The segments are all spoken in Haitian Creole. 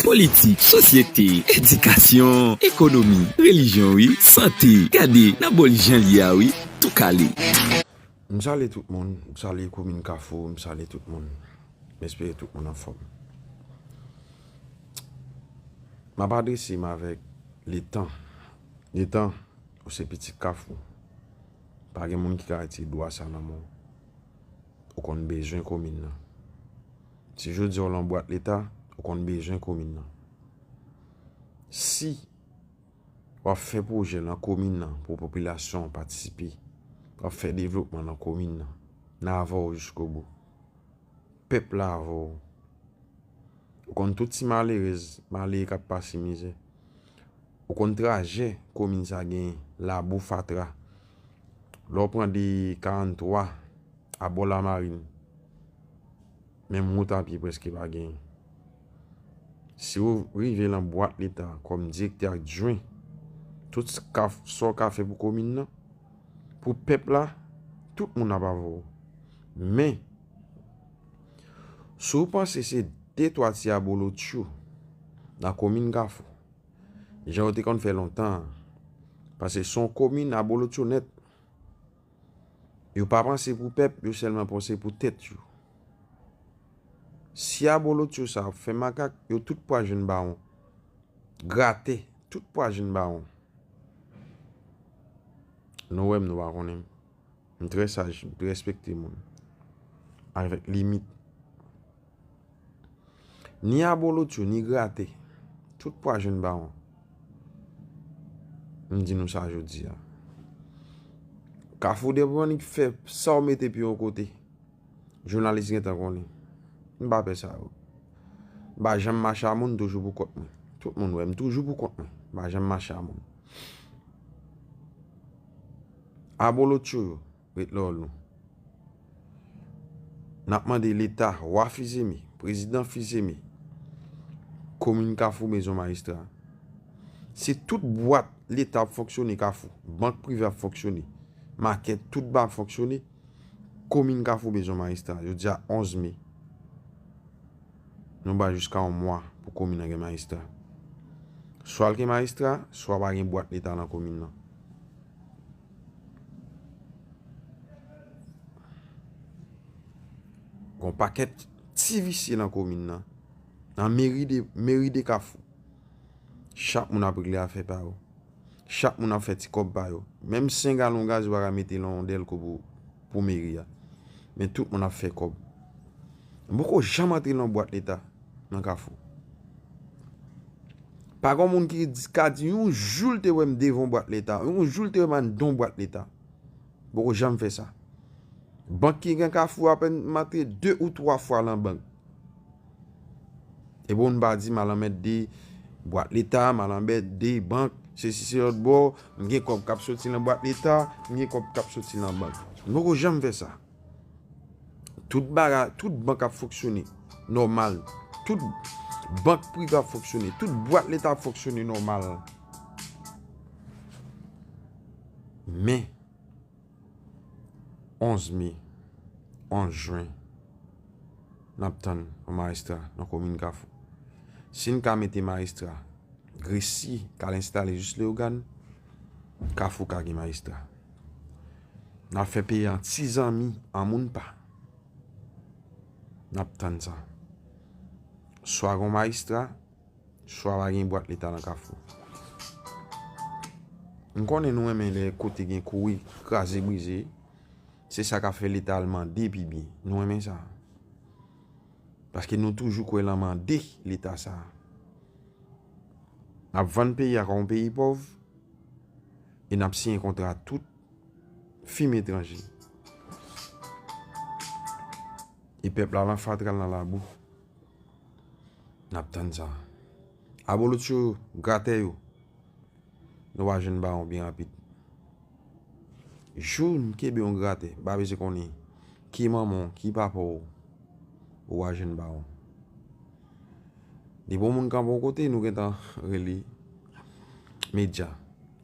Politik, sosyete, edikasyon, ekonomi, relijyon wi, sante, gade nan bol jan l ye a wi, tou kale. M sale tout moun, m sale komin kafou, m sale tout moun, m espere tout moun anfòm. M ap adrese m avèk letan, letan ou se pitit kafou, pa gen moun ki ka retire dwa sa nan men w, ou konn bezwen komin nan. Si jodi a ou lan bwat leta, ou konn bezwen komin nan. Si wap fè pwojè nan komin nan pou popilasyon an patisipe, wap fè devlopman nan komin nan, nan avè w jisko bou. Pèp la avè w. Ou konn tout ti malerèz, malere kap pase mizè. Ou konn trajè komin sa genyen, labou, fatra. Lè w pran de 43 a bò la marin. Menm wout a pye prèske pa genyen. Si ou rive lan bwat leta kòm direktè adjwen, tout sa ou ka fè pou komin nan, pou pèp la, tout moun ap avè ou. Men, si ou panse se de twa ti abolotcho nan komin Kafou, jan yo te konn fè lontan an, pase son komin abolotcho nèt. Yo pa panse pou pèp, yo sèlman panse pou tèt yo. Si abolotcho sa ap fè makak, yo tout pwa jwenn bawon. Gratè, tout pwa jwenn bawon. Nou wèm nou pa konnen m. M trè saj, m respekte moun. Avèk limit. Ni abolotcho, ni grate, tout pwa jwenn bawon. M di nou sa jodi a. Kafou debronik fè sa w mete pi yon kote. Jounalis gen tan konnen. M pa pè sa yo. M pa janm mache a moun toujou pou kont mwen. Tout moun wè m toujou pou kont mwen. M pa janm mache a moun. Abolotcho yo. Ret la w nou. Nap mande leta, wa fizemi, prezidan fizemi, komin kafou mezon majistra. Se tout bwat leta ap fonksyone kafou, bank prive ap fonksyone, makèt tout ba ap fonksyone, komin kafou mezon majistra. Yo di a 11 me, nou ba jiska yon mwa pou komin nan gen majistra. Swa l gen majistra, swa pa gen bwat leta nan komin nan. Gon pakèt ti visye nan komin nan. Nan meri de kafou. Chak moun ap regle afè pa yo. Chak moun ap fè ti kòb pa yo. Menm 5 galon gaz ou pa ka mete lan yon dèlko pou meri a. Men tout moun ap fè kòb. Mwen poko janm antre lan bwat leta. Nan kafou. Pa gon moun ki ka di yon jou l te wè m devan yon bwat leta. Yon jou l te wè m anndan yon bwat leta. M poko janm fè sa. Bank ki gen kafou apen m antre 2 ou 3 fwa lan bank. E pou m pa di m al anmède bwat leta, m al anmède bank, se si se lòt bò, m gen kòb k ap soti lan bwat leta, m gen kòb k ap soti lan bank. M poko janm fè sa. Tout baga, tout bank ap fonksyone nòmal. Tout bank prive ap fonksyone. Tout bwat leta ap fonksyone nòmal. Men, 11 me, 11 jwen, n ap tann yon maestra nan komin kafou. Si n ka mete maestra, gresi ka l enstale jis leyogan, kafou ka gen maestra. Nap fè peyi an ti zanmi an moun pa. Nap tann sa. Swa gon maestra, swa pa gen bwat leta nan kafou. M konnen nou renmen lè kote gen kouri, kraze brize. Se sa ka fè leta al mande pi byen. Nou renmen sa. Paske nou toujou kwe lan mande leta sa. Nap vann peyi a kon peyi pov. E nap siyen kontra a tout fim etranje. E pèp la lan fatra l nan labou. Nap tann sa. Abolotcho yo, gratè yo. Nou va jwenn bawon byen rapid. Jou nou kenbe yon gratè, m pa bezwen konnen ki manman w, ki papa w, ou va jwenn bawon. Depi yon moun kanpe yon kote, nou gentan rele medya.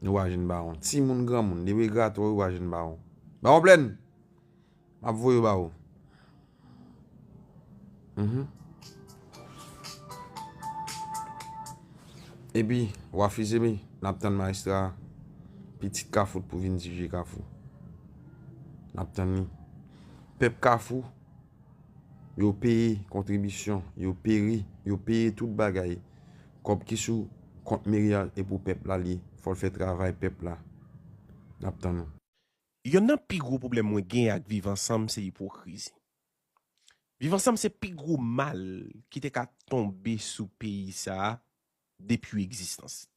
Nou wè jèn bawon. Ti moun, gran moun. Depi gratò, ou wè jèn bawon. Bawon plèn! M ap voye ba ou. E pi, w ap fize mi. N ap tann maestra. Pitit kafou pou vin dirije kafou. N ap tann ni. Pèp kafou. Yo peye kontribisyon, yo peri, yo peye tout bagay. Kòb ki sou kont meri a e pou pèp la li ye. Fò l fè travay pèp la. N ap tann ou. Yonn nan pi gwo pwoblèm mwen gen ak viv ansanm se ipokrizi. Viv ansanm se pi gwo mal ki te ka tonbe sou peyi sa a depi egzistans li.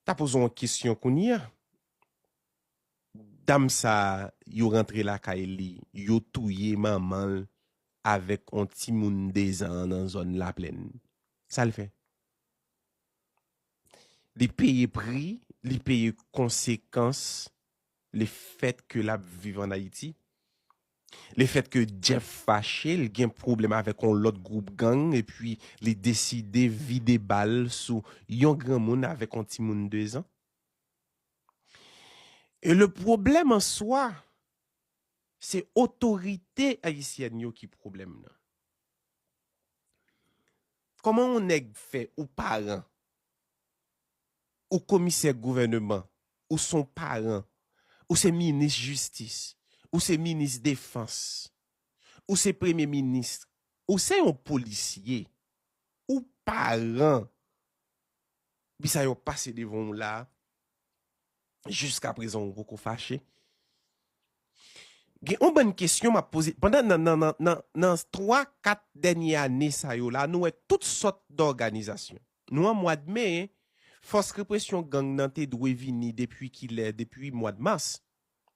Ta poze w yon kesyon kounye a. Dam sa yo rantre lakay li yo touye manmanl avèk on timoun 2 zan an nan zòn laplèn. Sal fè? Li peye pri, li peye konsekans le fèt ke lap viv an Ayiti. Le fèt ke Jeff fache, li gen pwoblèm avèk on lòt gwoup gang epi li deside vide bal sou yon granmoun avèk on timoun 2 zan. E le pwoblèm an swa, se otorite ayisyèn yo ki pwoblèm nan. Kòman yon nèg fè ou paran, ou komisè gouvèneman, ou son paran, ou se minis jistis, ou se minis defans, ou se premye minis, ou se yon polisye, ou paran. Depi sa yo pase devan ou la a, jiska prezan ou poko fache. Gen yon bann kesyon m ap poze, pandan nan nan nan nan nan 3, 4 dènye ane sa yo la a nou wè tout sòt dòganizasyon. Nou an mwad me, fòs represyon gang nan te dwe vini depi kilè, depi mwad mas.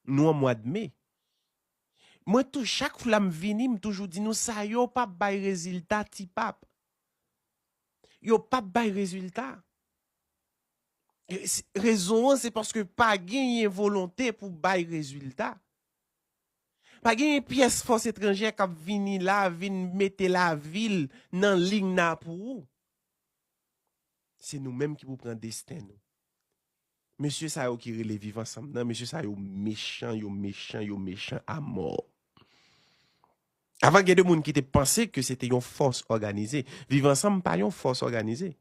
Nou an mwad me. Mwen tou chak fla m vini m toujou di nou sa yo pa bay rezilta ti pap. Yo pap bay rezilta. Rezon an se paske pa genyen volonte pou bay rezilta. Pa genyen pyès fòs etranjè k ap vini la vin mete lavi l nan ligna pou ou. Se nou menm ki pou pran desten nou. Mesye sa yo ki rele viv ansanm nan mesye sa yo mechan yo mechan yo mechan a mò. Avan gen de moun ki te panse ke se te yon fòs òganize. Viv ansanm pa yon fòs òganize.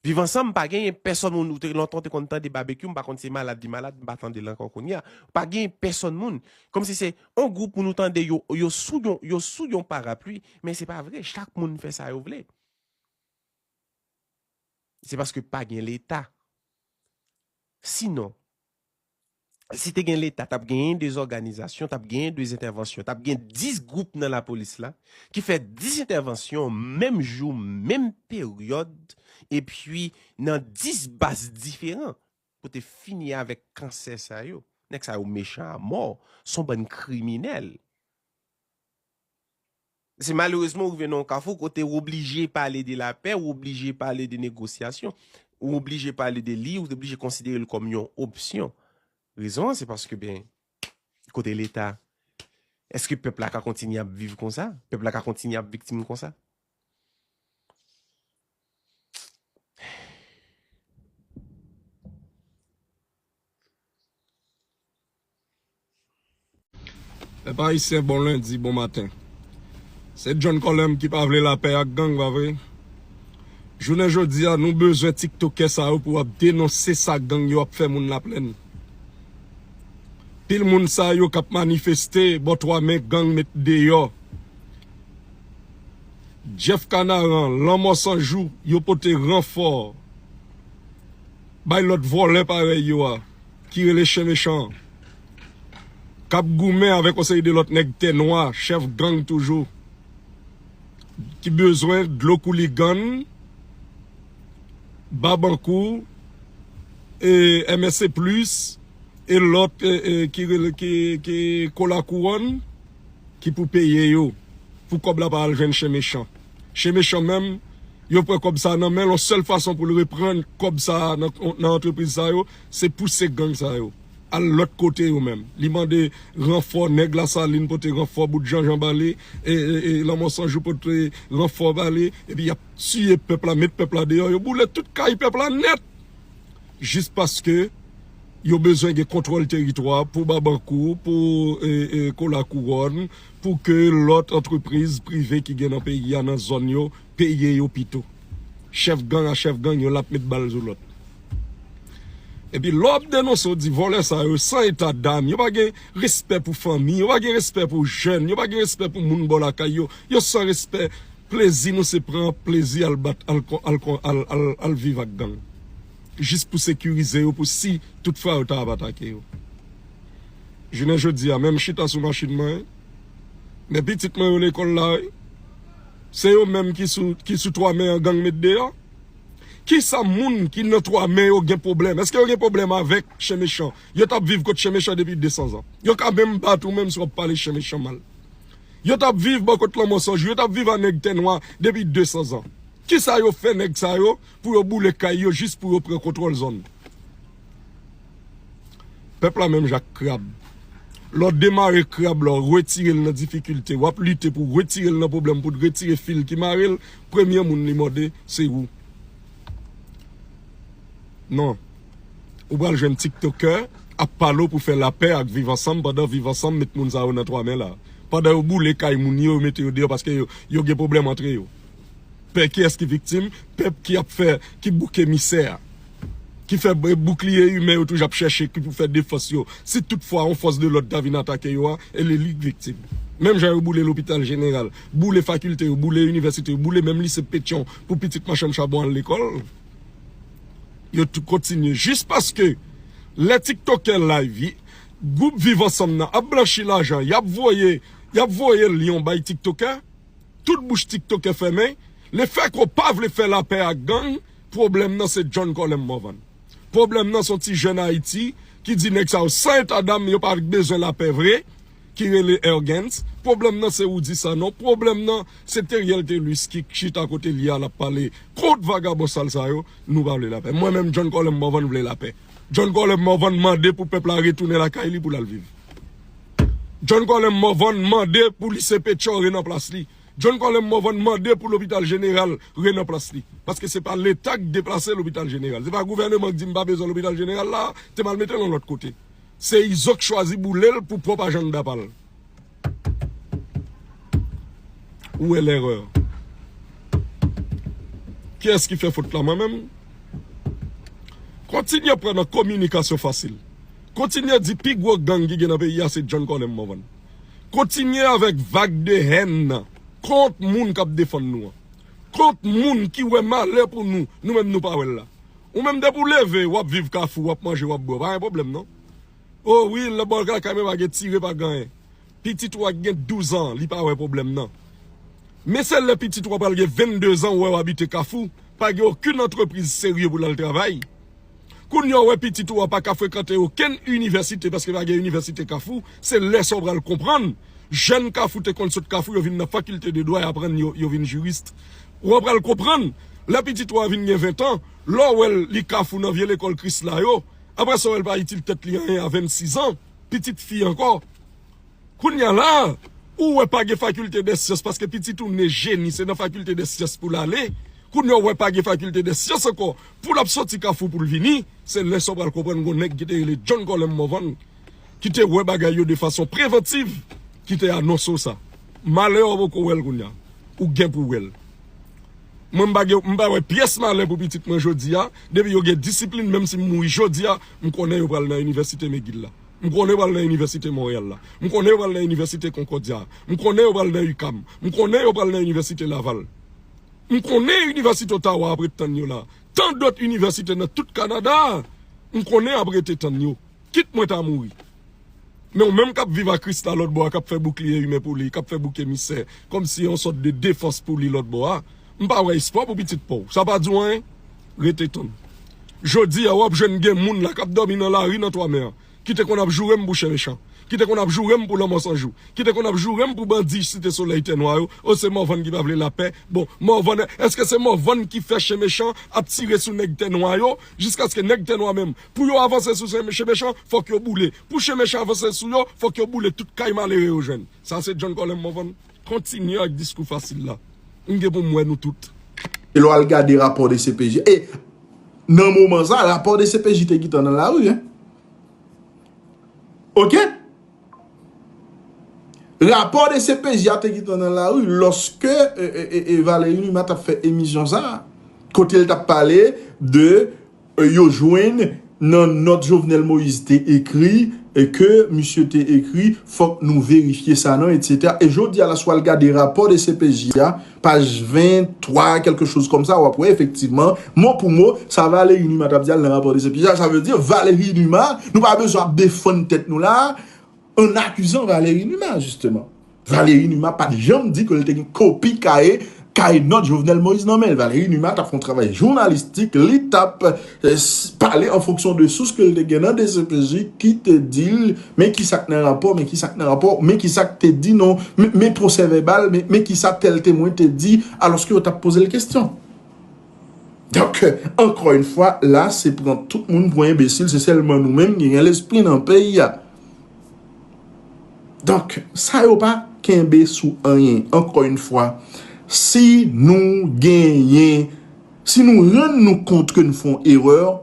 Viv ansanm pa genyen pèsòn moun ou te lontan ou te konn tande babekyou m pa konn se malad li malad m pa tande l ankò kounye a. Pa genyen pèsòn moun. Kòm si se yon gwoup moun ou tande yo yo sou yon yo sou yon parapli men se pa vre chak moun fè sa yo vle. Se paske pa gen leta. Si non, si te gen leta, tap genyen 2 òganizasyon, tap genyen 2 entèvansyon, tap gen 10 gwoup nan lapolis la, ki fè 10 entèvansyon menm jou, menm peryòd, epi nan 10 baz diferan, pou te fini avèk kansè sa yo. Nèg sa yo mechan a mò, son bann kriminèl. Se malerezman ou rive nan yon kafou kote ou oblije pale de lapè, ou oblije pale de negosyasyon, ou oblije pale de li, ou oblije konsidere l kòm yon opsyon. Rezon an se paske ben, kote leta? Eske pèp la ka kontinye ap viv konsa? Pèp la ka kontinye ap viktim konsa? Pèp ayisyen bon lendi bon maten se John Colem ki pa vle lapè ak gang pa vre jounen jodia nou bezwen tiktokè sa yo pou ap denonse sa gang yo ap fè moun laplèn pil moun sa yo kap manifeste bò 3 me gang met deyò Jeff Canaran lanmò san jou yo pote ranfò bay lòt vòlè parèy yo a. ki rele chen mechan an kap goumen avèk yon seri de lòt nèg tè nwa chèf gang toujou ki bezwen dlo kou ligann babankou e MSC plis e lòt ki rele ki kou la kouwòn ki pou peye yo pou kòb la pa al jwenn chen mechan chen mechan menm yo pran kòb sa nan menl yon sèl fason poul reprann kòb sa nan antrepriz sa yo. Se pouse gang sa yo Al lot kote yo menm li mande ranfò nèg la salin pote ranfò bout jan jan bali e lanmò sanjou pote ranfò bali epi yap tiye pèp la met pèp la deyò yo boule tout kay pèp la nèt jis paske yo bezwen gen kontwòl teritwa pou babankou pou kolakouròn pou ke lot antrepriz prive ki gen nan peyi a nan zòn yo Peye yo pito. Chef gang a chef gang yon lap met bal zo lot. Epi lè wap denonse ou di volè sa yo san eta dam, yo pa gen respè pou fanmi, yo pa gen respè pou jèn, yo pa gen respè pou moun bò lakay yo, yo san respè, plezi nou se pran plezi al bat al viv ak gang. Jis pou sekirize yo pou si tout fwa yo ta ap atake yo. Jounen jodi a menm chita sou machin mwen, men pitit mwen yo lekòl la wi. Se yo menm ki sou ki sou 3 men an gang met deyò. Kisa moun ki nan 3 men yo gen pwoblèm? Eske yo gen pwoblèm avèk chen mechan? Yo tap viv kot chen mechan depi 200 zan. Yo ka menm bat ou menm si wap pale chen mechan mal. Yo tap viv bò kot lanmò san jou. Yo tap viv a nèg tè nwa depi 200 zan. Kisa yo fè nèg sa yo Pou yo boule kay yo jis pou yo pran kontwòl zòn. Pèp la menm jan ak krab. Lè w demare krab la, w retire l nan difikilte, w ap lite pou w retire l nan pwoblèm, pou w retire fil ki mare l, premye moun li mòde, se ou. Non. Ou pral jwenn tiktokè ap pale w pou fè lapè ak viv ansanm pandan viv ansanm met moun sa yo nan twa men la. Pandan yo boule kay moun yo, yo mete yo deyò paske yo gen pwoblèm antre yo. Pè kiyès ki viktim? Pèp ki ap fè, ki bouk emisè a. Ki fè boukliye imen yo toujou ap chèche ki pou fè defans yo. Si tout fwa yon fòs de lòd ta vin atake yo a, e li li k viktim. Menm jan yo boule lopital jeneral, boule fakilte yo, boule inivèsite yo, boule menm lise Petyon pou pitit machann chabon al lekòl. Yo tou kontinye jis paske lè tiktokè live, gwoup viv ansanm nan ap blanchi lajan y ap voye, y ap voye lyon bay tiktokè. Tout bouch tiktokè fèmen, le fè ke w pa vle fè lapè ak gang, pwoblèm nan se John Colem Morvan. Pwoblèm nan se yon ti jèn Ayiti ki di nèg sa yo san eta dam, yo pa bezwen lapè vre, ki rele Ergens. Pwoblèm nan se Roudy Sanon. Pwoblèm nan se Theriel Thelus ki chita kote li a, l ap pale kont vagabon sal sa yo. Nou pa vle lapè. Mwen menm John Colem Morvan vle lapè. John Colem Morvan mande pou pèp la retounen lakay li pou l al viv. John Colem Morvan mande pou Lise Pétion re nan plas li. John Colem Morvan mande pou Lopital Jeneral re nan plas li. Paske se pa Leta k deplase Lopital Jeneral. Se pa gouvèneman k di m pa bezwen Lopital Jeneral la a, te m al mete l yon lòt kote. Se Izo k chwazi boule l pou pwòp ajannda pa l. Ou wè lèrè. Kiyès ki fè fot la mwen menm? Kontinye pran nan kominikasyon fasil. Kontinye di pi gwo gang ki gen nan peyi a se John Colem Morvan. Kontinye avèk vag de hèn nan kont moun k ap defann nou an. Kont moun ki wè malè pou nou, nou menm nou pa wè l la. Ou menm depi ou leve, w ap viv kafou, w ap manje, w ap bwè, w pa gen pwoblèm non. Oh wi lè bòl kaka men pa gen tire pa ganyen pitit ou a ki gen 12 ans li pa wè problèm nan men se lè pitit ou a pral gen 22 ans ou wè wap abite kafou pa gen okenn antrepriz serye pou lal travay kounya ou wè pitit ou a paka frekante okenn inivèsite paske pa gen inivèsite kafou se lè sa ou pral konprann jèn kafou te konn sot kafou yo vin nan fakilte de dwa y aprann yo vin jurist ou a pral konprann lè pitit ou a vin gen 20 ans lè ou wèl li kafou nan vye lekòl krisla yo Aprè sa w wè l pa itil tèt li anyen a 26 ans, pitit fi ankò. Kounya la a, ou wè pa gen faculté des sciences paske pitit ou né génie se nan faculté des sciences pou l ale. Kounya w wè pa gen faculté des sciences ankò pou l ap soti kafou pou l vini. Se lè sa w pral konprann gon nèg ki te rele John Colem Morvan ki te wè bagay yo de fason preventiv ki te anonse w sa. Malè a w poko wè l kounya. Ou gen pou wè l. Mwen m pa gen m pa wè pyès malè pou pitit mwen jodi a, depi yo gen disiplin menm si m mouri jodi a, m konnen yo pral nan inivèsite McGill la, m konnen yo pral nan inivèsite Montréal la, m konnen yo pral nan inivèsite Concordia a, m konnen yo pral nan UQAM, m konnen yo pral nan inivèsite Laval. M konnen inivèsite Ottawa ap ret tann yo la. Tan dòt inivèsite nan tout Kanada a, m konnen ap rete tann yo. Kit mwen ta mouri. Men ou menm kap viv a Christa lòt bò a kap fè boukliye imen pou li, kap fè bouk emisè kòm si yon sòt de defans pou li lòt bò a, m pa wè espwa pou pitit pa w. Sa pa di w anyen? Rete tann. Jodi a wap jwenn gen moun la kap dòmi nan lari nan 3 mè an ki te konn ap joure m pou chen mechan, ki te konn ap joure m pou lanmò san jou, ki te konn ap joure m pou bandi site solèy tè nwa yo, o se Morvan ki pa vle lapè, bon Morvan èske se Morvan ki fè chen mechan ap tire sou nèg tè nwa yo jiskaske nèg tè nwa menm Pou yo avanse sou chen mechan, fòk yo boule. Pou chen mechan avanse sou yo, fòk yo boule tout kay malere yo jwenn. Sa se John Colem Morvan. Kontinye ak diskou fasil la. M gen pou m wè nou tout. E lè w al gade rapò dcpj. E nan moman sa, rapò dcpj te gentan nan lari. Ok? Rapò dcpj a te gentan nan lari lòske Valéry Numa t ap fè emisyon sa. Kote l t ap pale de. Yo jwenn nan nòt Jovenel Moïse te ekri ke misye te ekri fòk nou verifye sa non etc. E jodi a la si w al gade rapò dcpj a paj 23 kèlke choz kòm sa w ap wè efektivman mo pou mo sa Valery Numa t ap di a l nan rapò dcpj a sa vle di Valery Numa nou pa bezwen ap defann tèt nou la a an akizan Valery Numa jisteman. Valery Numa pat janm di ke l te gen kopi kaye kay nòt Jovenel Moïse nan men l. Valery Numa t ap fè yon travay jounalistik, li t ap pale an fonksyon de sous ke l te gen nan dcpj ki te di l men ki sa k nan rapò, men ki sa k nan rapò, men ki sa k te di nan men pwosè vèbal, men ki sa tèl temwen te di alòske yo t ap poze l kestyon. Donk, ankò yon fwa, la se pran tout moun pou enbesil, se sèlman nou menm ki gen lespri nan peyi a. Donk, sa yo pa kenbe sou anyen. Ankò yon fwa, si nou genyen, si nou rann nou kont ke nou fè yon erè,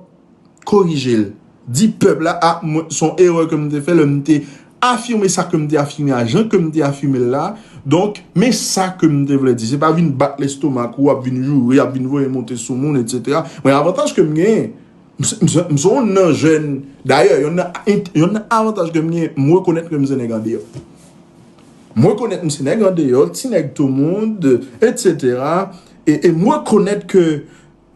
korije l. Di pèp la, a, mwen, se yon erè ke m te fè lè m te afime sa ke m te afime a, jan ke m te afime l la. Donk, men sa ke m te vle di. Se pa vin bat lestomak ou, ap vin joure, ap vin voye monte sou moun, etc. Mwen avantaj ke m genyen. M se youn nan jèn, dayè youn nan avantaj ke m gen, m rekonèt ke m se nèg andeyò. M rekonèt m se nèg andeyò, ti nèg tou moun, etc. E m rekonèt ke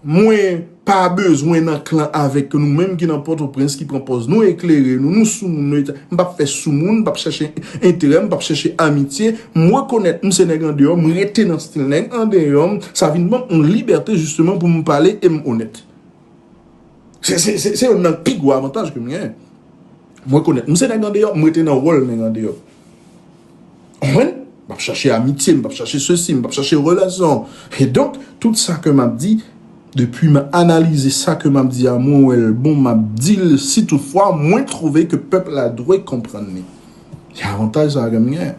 mwen pa bezwen nan klan avèk ke nou menm ki nan Pòtoprens ki pran pòz nou eklere, nou nou sou moun, m pa p fè sou moun, m pa p chèche enterè, m pa p chèche amitye. M rekonèt m se nèg andeyò, m rete nan stil nèg andeyò m, sa vin ban m yon libète jisteman pou m pale e m onèt. Se youn nan pi gwo avantaj ke m genyen. M rekonèt, m se nèg andeyò, m rete nan wòl nèg andeyò. Konprann? M pa p chache amitye, m pa p chache sesi, m pa p chache relasyon. E donk, tout sa ke m ap di, depi m analize sa ke m ap di a, mwen wè l bon, m ap di l, si tout fwa mwen twouve ke pèp la dwe konprann li. Se avantaj sa a ke m genyen.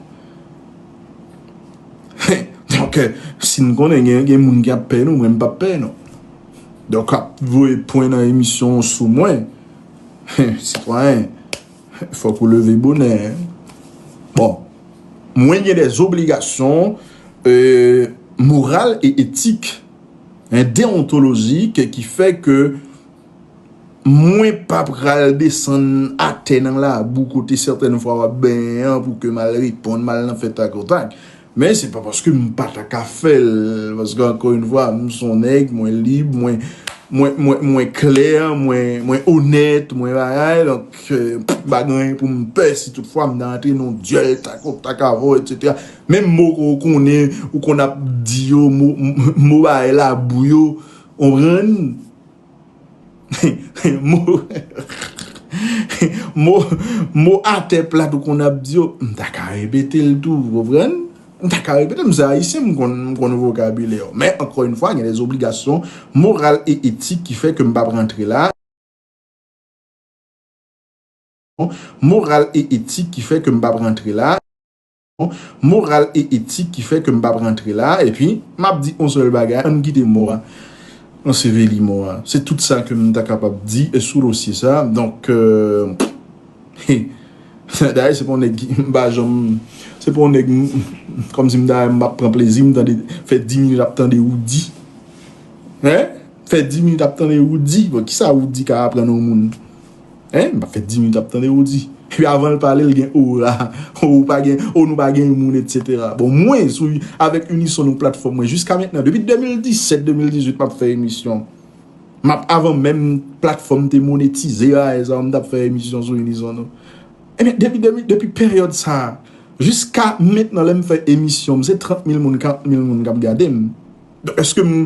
Donk, si n konnen gen moun ki ap pè nou, mwen m pa p pè nou. Donk ap voye pwen nan emisyon w sou mwen. Sitwayen, fòk ou leve bonè. Bon, mwen gen des obligasyon moral e etik, deontolojik ki fè ke mwen pa pral desann atè nan labou kote sètèn fwa w ap benyen an pou ke m al reponn, m al nan fè takotak. Men se pa paske m pa ta ka fè l, paske ankò yn fwa m s on nèg, mwen lib, mwen klè, mwen onèt, mwen bagay, donk m pa gen anyen pou m pè si tout fwa m ta antre nan yon dyòl tako takavò etc. Menm mo ke w konnen, ou konn ap di yo, mo bagay labou yo, konprann? Mo atè plat ou konn ap di yo, m ta ka repete l tou, ou konprann? M ta ka repete l, m se Ayisyen, m konn vokabilè yo. Men, ankò yon fwa, gen de zobligasyon moral e etik ki fè ke m pa p rantre la. Moral e etik ki fè ke m pa p rantre la. moral e etik ki fè ke m pap rantre la a, epi m ap di on sèl bagay, an n kite mò a, anseveli mò a. Se tout sa ke m ta kapab di sou dosye sa a. Donk, he, dayè se pa on nèg ki, m pa janm, se pa on nèg m, kòm si m ta, m ap pran plezi m tande, fè di minit ap tande Roody. He, fè di minit ap tande Roody, bon, kisa Roody ka aprann on moun? Hein map fè 10 minutes ap tande ou di Epi avanl pale l gen ora Oh ou pa gen oh nou pa gen moun etc Bon mwen sou avèk unison nou platfòm mwen jiska mentnan depi 2017 2018 map fè emisyon Map avan menm platfòm te monetize a e zan mtap fè emisyon sou unison nou Ebyen depi depi peryòd sa jiska mentnan lèm fè emisyon m se 30 mil moun 40 mil moun kap gade m. Eske m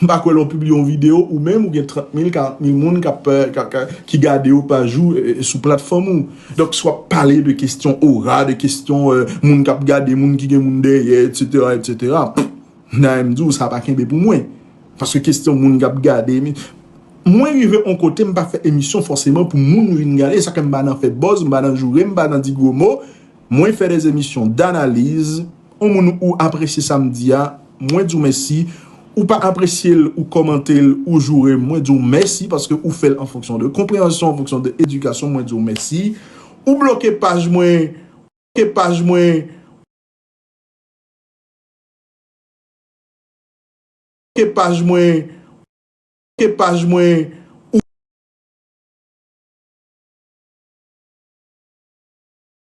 pa kwè lè w pibliye yon videyo ou menm ou gen 30 mil, 40 mil moun ki gade yo pa jou sou platfòm ou. Donk si w ap pale de kestyon ora, de kestyon moun k ap gade, moun ki gen moun dèyè etsetera etsetera, m ta renmen di w sa pa kenbe pou mwen. Paske kestyon moun k ap gade, mwen rive yon kote m pa fè emisyon fòseman pou moun vin gade, sa fè m pa nan fè buzz, m pa nan joure, m pa nan di gwo mo, mwen fè de emisyon danaliz. On moun ou apresye sam di a mwen diw mèsi ou pa apresyel ou kòmantel ou jourem mwen diw mèsi paske ou fèl an fonksyon de konpreyansyon an fonksyon de edikasyon mwen diw mèsi ou bloke paj mwen ou bloke paj mwen ou bloke paj mwen ou bloke paj mwen ou.